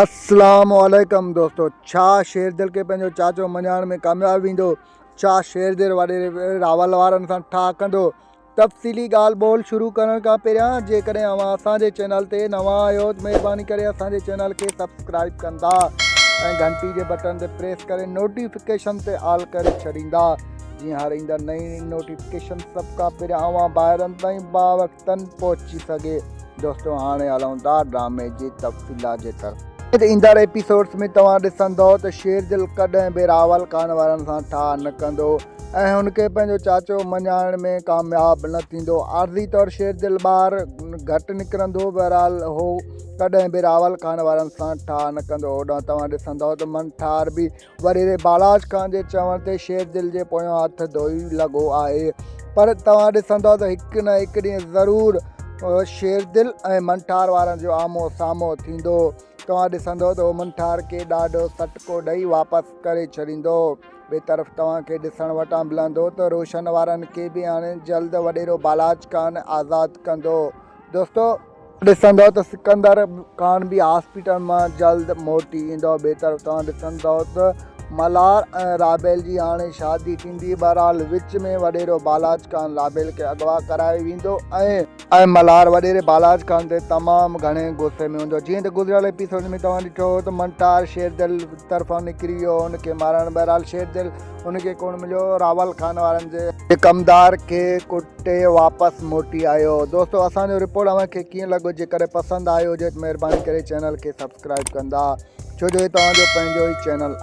اسلام عليڪم دوستو ڇا شيردل کي پنهنجو چاچو مڃائڻ ۾ ڪامياب ويندو ڇا شيردل وڏيري راول وارن سان ٺاهه ڪندو تفصيلي ڳالهه ٻولهه شروع ڪرڻ کان پهريان جيڪڏهن اوهان اسان جي چينل تي نوان آهيو ته مهرباني ڪري اسان جي چينل کي سبسڪرائب ڪندا ۽ گهنٽي جي بٽن تي پريس ڪري نوٽيفڪيشن تي آل ڪري ڇڏيندا جيئن هر ايندڙ نئين نوٽيفڪيشن سڀ کان پهريان اوهان ڀائرن تائين باوقت تن پهچي سگهي. دوستو هاڻي هلون ٿا ڊرامي جي تفصيلات جي طرف. ايندڙ ايپيسوڊس ۾ توهان ڏسندئو ته شيردل ڪڏهن به راول خان وارن سان ٺاهه نه ڪندو ۽ هن کي پنهنجو چاچو مڃائڻ ۾ ڪامياب نه ٿيندو. عارضي طور شيردل ٻاهر گهٽ نڪرندو بهرحال هو ڪڏهن به راول خان وارن سان ٺاهه نه ڪندو. هوڏانهن توهان ڏسندئو ته من ٺار به وريري بالاچ خان جي چوڻ تي شير دل جي پويان هٿ ڌوئي لڳو آهي پر توهان ڏسندؤ ته هڪ نه هڪ ڏينهن ضرور شير دل ۽ منٺار وارن جو آمهو سامهو ٿيندو توهان ڏسندؤ ته هو منٺار کي ڏاڍو سٽڪو ڏئي واپس ڪري ڇڏيندو ٻي طرف توهان کي ڏسڻ وٽان ملندو ته روشن وارن کي به هاڻي جلد وڏيرو بالاچ خان آزاد ڪندو دوستو ڏسندؤ ته سڪندر خان به هاسپيٽل مان جلد موٽي ايندو. بهتر توهان ڏسندؤ ته ملهار ۽ رابيل جي هاڻي شادي ٿيندي. بهرحال وچ ۾ وڏيرو بالاچ خان رابيل کي اغوا ڪرائي ويندو ۽. ۽ ملهار وڏيري بالاچ خان تي تمام گهڻي غصي ۾ هوندو. جيئن ته گذريل ايپيسوڊ ۾ توهان ڏٺو هو ته منٽار شيردل طرفان نڪري ويو هو ان کي مارڻ. بهرحال شيردل. ان کي ڪونه مليو راول خان وارن جي ڪمدار کي ڪٽي واپس موٽي آيو دوستو اسان جو رپورٽ اوهان کي ڪيئن لڳو جيڪڏهن پسند آيو هجي ته مهرباني ڪري چينل کي سبسڪرائب ڪندا ڇو جو هي توهان جو پنهنجو ئي چينل آهي